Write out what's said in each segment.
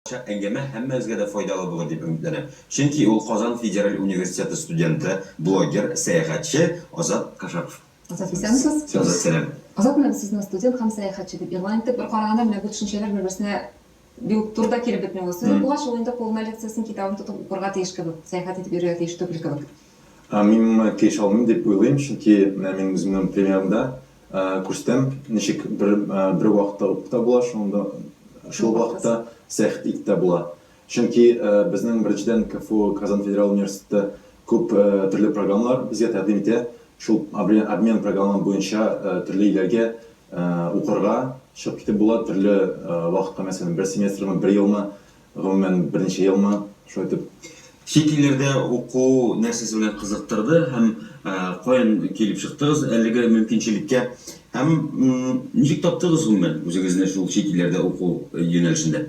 Чак әңгәмә һәммәбезгә дә файдалы булыр дип өметләнәм. Чөнки ул Казан федераль университеты студенты, блогер, сәяхәтче Азат Кашапов. Азат, исәнмесез? Азат, сәлам. Азат, менә без сезне студент һәм сәяхәтче дип игълан иттек. Бер караганда, менә бу төшенчәләр бер-берсенә бик үк туры да килеп бетми ул. Сез укыгач, ул инде кулына лекциясен, китабын тотып укырга тиеш кебек, сәяхәт итеп йөрергә тиеш түгел кебек. Мин моңа килешә алмыйм дип уйлыйм, чөнки менә минем үземнең примерымда Күрсәтәм, ничек бер бер вакытта ук та була, шуның да шул вакытта сәхт ит тә була. Чөнки безнең беренчедән КФУ Казан федераль университеты күп төрле программалар безгә тәкъдим итә. Шул обмен программам буенча төрле илләргә укырга чыгып китеп була, төрле вакытка, мәсәлән, бер семестрмы, бер елмы Гомумән, беренче елмы, шулай итеп, чит илләрдә уку нәрсәсе белән кызыктырды һәм каян килеп чыктыгыз әлеге мөмкинчелеккә? Һәм ничек таптыгыз гомумән үзегезне шул чит илләрдә уку юнәлешендә?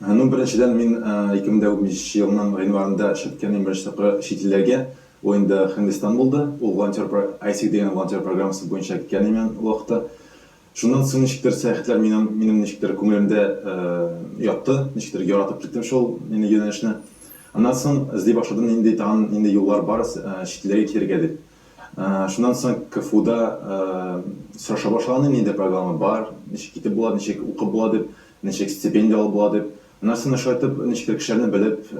Ну, беренчедән, мин 2015 елның гыйнварында чыгып киткән иң беренче тапкыр чит илләргә. Ул инде Һиндстан булды. Ул волонтер, ISEC дигән волонтер программасы буенча киткән идем мин ул вакытта. Шуннан соң ничектер сәяхәтләр минем, минем ничектер күңелемдә ятты, ничектер яратып киттем шул инде юнәлешне. Аннан соң эзли башладым, нинди тагын, нинди юллар бар чит илләргә китәргә дип. Шуннан соң КФУда сораша башлаганнар, нинди программа бар, ничек китеп була, ничек укып була дип, ничек стипендия алып була дип. Аннан соң менә шулай итеп, ничектер кешеләрне белеп,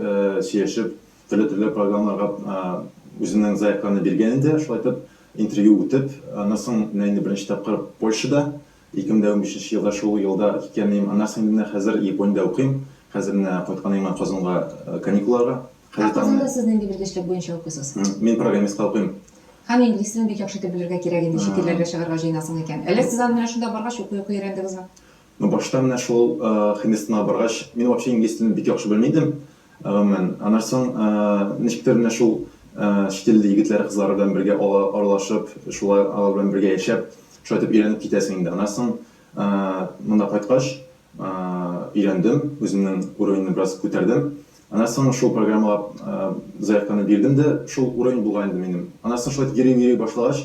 сөйләшеп, Төрле-төрле программнарга үзенең заявканы биргән инде, шулай итеп, интервью үтеп, аннан соң менә инде беренче тапкыр Польшада, 2015 елда шул елда киткән идем, аннан соң инде менә хәзер Япониядә укыйм, хәзер менә кайткан идем Казанга каникулларга. Ә Казанда сез нинди белгечлек буенча укыйсыз? Мин программистка укыйм. Һәм инглиз телен бик яхшы итеп белергә кирәк инде, чит илләргә чыгарга җыенасың икән. Әллә сез аны менә шунда баргач укый-укый өйрәндегезме? Ну башта менә шул Хинестана баргач, мин вообще инглиз телен бик яхшы белми идем, гомумән. Аннан соң ничектер менә шул чит ил егетләре, кызлары белән бергә аралашып, шулай алар белән бергә яшәп, шулай итеп өйрәнеп китәсең инде. Аннан соң монда кайткач өйрәндем, үземнең уровеньны бераз күтәрдем. Аннан соң шул программага заявканы бирдем дә, шул уровень булган инде минем. Аннан соң шулай итеп йөри-йөри башлагач,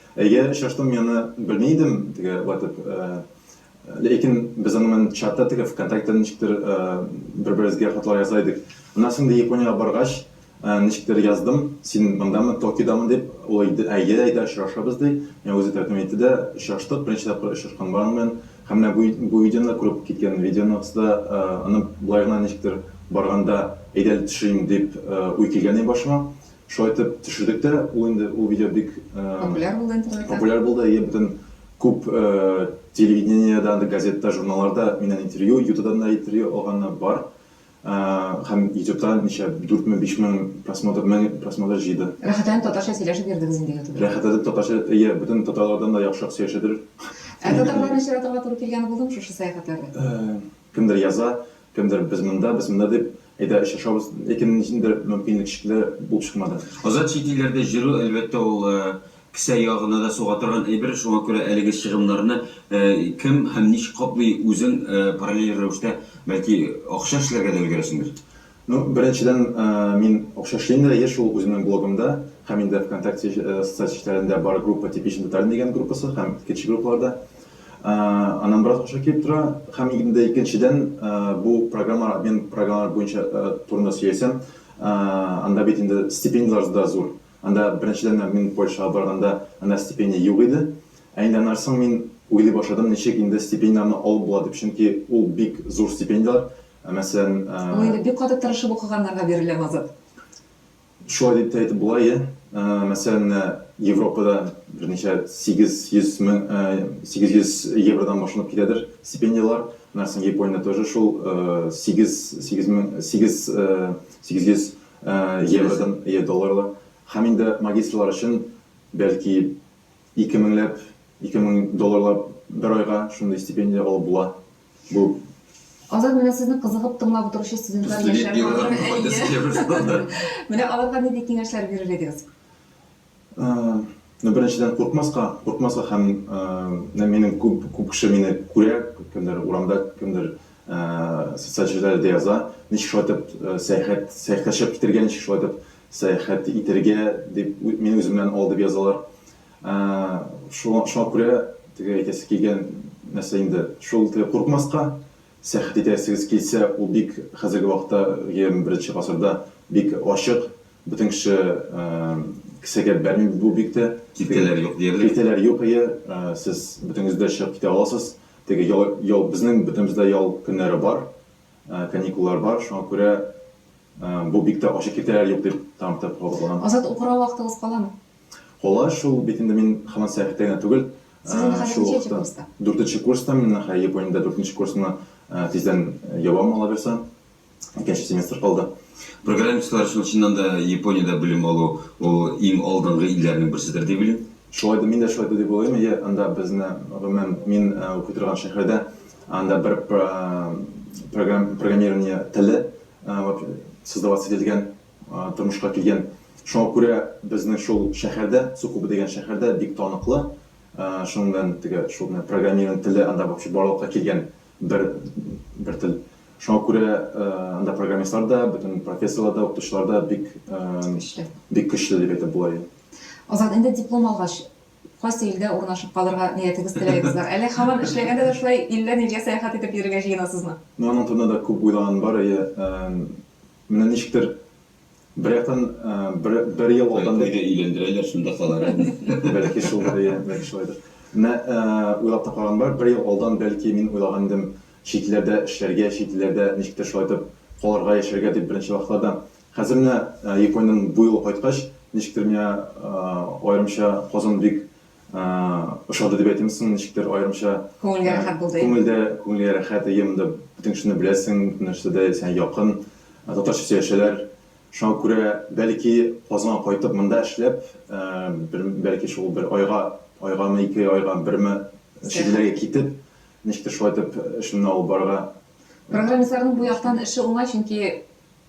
Әйе, очраштым мин аны, белми идем теге ватып. Ләкин без аны мен чатта теге вконтакте ничектер бер-беребезгә хатлар яза идек. Аннан соң инде Япониягә баргач, ничектер яздым, син мондамы, Токиодамы дип, ул әйде, әйе, әйдә очрашабыз ди. Миңа үзе тәкъдим итте дә, очраштык, беренче тапкыр очрашканым бар аның белән. Һәм менә бу, бу видеоны да күреп киткән видеоныгыз да, аны болай гына ничектер барганда әйдә әле төшерим дип уй килгән иде башыма. Шулай итеп төшердек тә, ул инде ул видео бик популяр булды интернетта. Популяр булды, әйе, бөтен күп телевидениедә, газетта, журналларда миннән интервью, ютубтан да интервью алганнар бар. Һәм ютубта ничә, дүртме, бишме просмотр, мең просмотр җыйды. Рәхәтләнеп татарча сөйләшеп йөрдегез инде ютубта. Рәхәтләнеп татарча, әйе, бөтен татарлардан да яхшырак сөйләшәдер. Ә татарларны очратырга туры килгәне булдымы шушы сәяхәтләрдә? Кемдер яза, кемдер без монда, без монда дип, әйдә очрашабыз, ләкин ниндидер мөмкинлек шикелле булып чыкмады. Азат чит илләрдә җөрү, әлбәттә, ул кесә ягына да суга торган әйбер, шуңа күрә әлеге чыгымнарны кем һәм ничек каплый, үзең параллель рәвештә, бәлки, акча эшләргә дә өлгерәсеңдер? Ну, беренчедән, мин акча эшлим дә еш шул үземнең блогымда һәм инде ВКонтакте социаль сетьләрендә бар группа Типичный татарин дигән группасы һәм икенче группаларда. Аннан бераз акча килеп тора һәм инде икенчедән, бу программалар, обмен программалары буенча турында сөйләсәм, анда бит инде стипендияләр дә зур. Анда беренчедән дә мин Польшага барганда анда стипендия юк иде. Ә инде аннары соң мин уйлый башладым, ничек инде стипендияләрне алып була дип, чөнки ул бик зур стипендияләр. Ә мәсәлән. Ул инде бик каты тырышып укыганнарга бирелә, Мазат. Шулай дип тә әйтеп була, әйе. Мәсәлән, менә Европада берничә 800 мең, 800 евродан башланып китәдер стипендияләр. Менә соң Япониядә тоже шул 8, 8 мең, 8, 800 евродан, әйе, долларлар. Һәм инде магистрлар өчен бәлки ике меңләп, ике мең долларлап бер айга шундый стипендия алып була. Бу Азат, менә сезне кызыгып тыңлап утыручы студентлар яшәр бардыр. Менә аларга нинди киңәшләр бирер идегез? Ну, беренчедән, куркмаска, куркмаска һәм менә минем күп, күп кеше мине күрә, кемдер урамда, кемдер социаль челтәрләрдә яза, ничек шулай итеп сәяхәт, сәяхәткә чыгып китергә, ничек шулай итеп сәяхәт итәргә дип мине үземнән ал дип язалар. Ә шуңа шуңа күрә теге әйтәсе килгән нәрсә инде шул теге курыкмаска сәяхәт итәсегез килсә ул бик хәзерге вакытта егерме беренче гасырда бик ачык бөтен кеше ә кесәгә бәрми бу бик тә киртәләр юк диярлек киртәләр юк әйе ә сез бөтенегез дә чыгып китә аласыз теге ял ял безнең бөтенебез дә ял көннәре бар ә каникуллар бар шуңа күрә ә бу бик тә ачык киртәләр юк дип тагын бер тапкыр кабатланам. Азат укырга вакытыгыз каламы? Колач ул бит инде мин хаман сәяхәттә генә түгел. Сезнең хәзер ничәнче курста? Дүртенче курста, мин нәхә Япониядә дүртенче курсны тиздән ябам алабирса. Икенче семестр калды. Программистлар өчен чыннан да Япониядә белем алу ул иң алдынгы илләрнең берседер дип уйлыйм. Шулай да мин дә шулай дип уйлыйм. Әйе, анда безне гомумән мин укый торган шәһәрдә анда бер программирование теле создаваться ителгән. тормышка килгән. Шуңа күрә безнең шул шәһәрдә, Сукуба дигән шәһәрдә бик таныклы. Шуның белән теге шул менә программированиенең теле анда вообще барлыкка килгән бер бер тел. Шуңа күрә анда программистлар да, бөтен профессорлар да, укытучылар да бик көчле. Бик көчле дип әйтеп була, иә. Азат, инде диплом алгач, кайсы илдә урнашып калырга ниятегез, теләгегез бар? Әллә һаман эшләгәндә дә шулай илдән илгә сәяхәт итеп йөрергә җыенасызмы? Менә аның турында да күп уйлануым бар, әйе. Менә ничектер, бер яктан, бер, бер ел алдан. Кайда өйләндерәләр, шунда калыр әле. Бәлки шулдыр, ия, бәлки шулайдыр. Менә, уйлап та караган бар, бер ел алдан, бәлки, мин уйлаган идем, чит илләрдә эшләргә, чит илләрдә ничектер шулай итеп калырга, яшәргә дип беренче вакытларда. Хәзер менә Япониядән бу юлы кайткач, ничектер миңа, аерымча, Казан бик Ошады дип әйтимме соң, ничектер аерымча. Күңелгә рәхәт булды. Күңелдә, күңелгә рәхәт, әйе, монда бөтен кешене беләсең, бөтен нәрсә дә сиңа якын. Татарча сөйләшәләр. Шуңа күрә, бәлки, Казанга кайтып, монда эшләп, бер, бәлки, шул бер айга, айгамы, ике айга, берме, чит илләргә китеп, ничектер шулай итеп эшемне алып барырга. Программистларның бу яктан эше уңай, чөнки.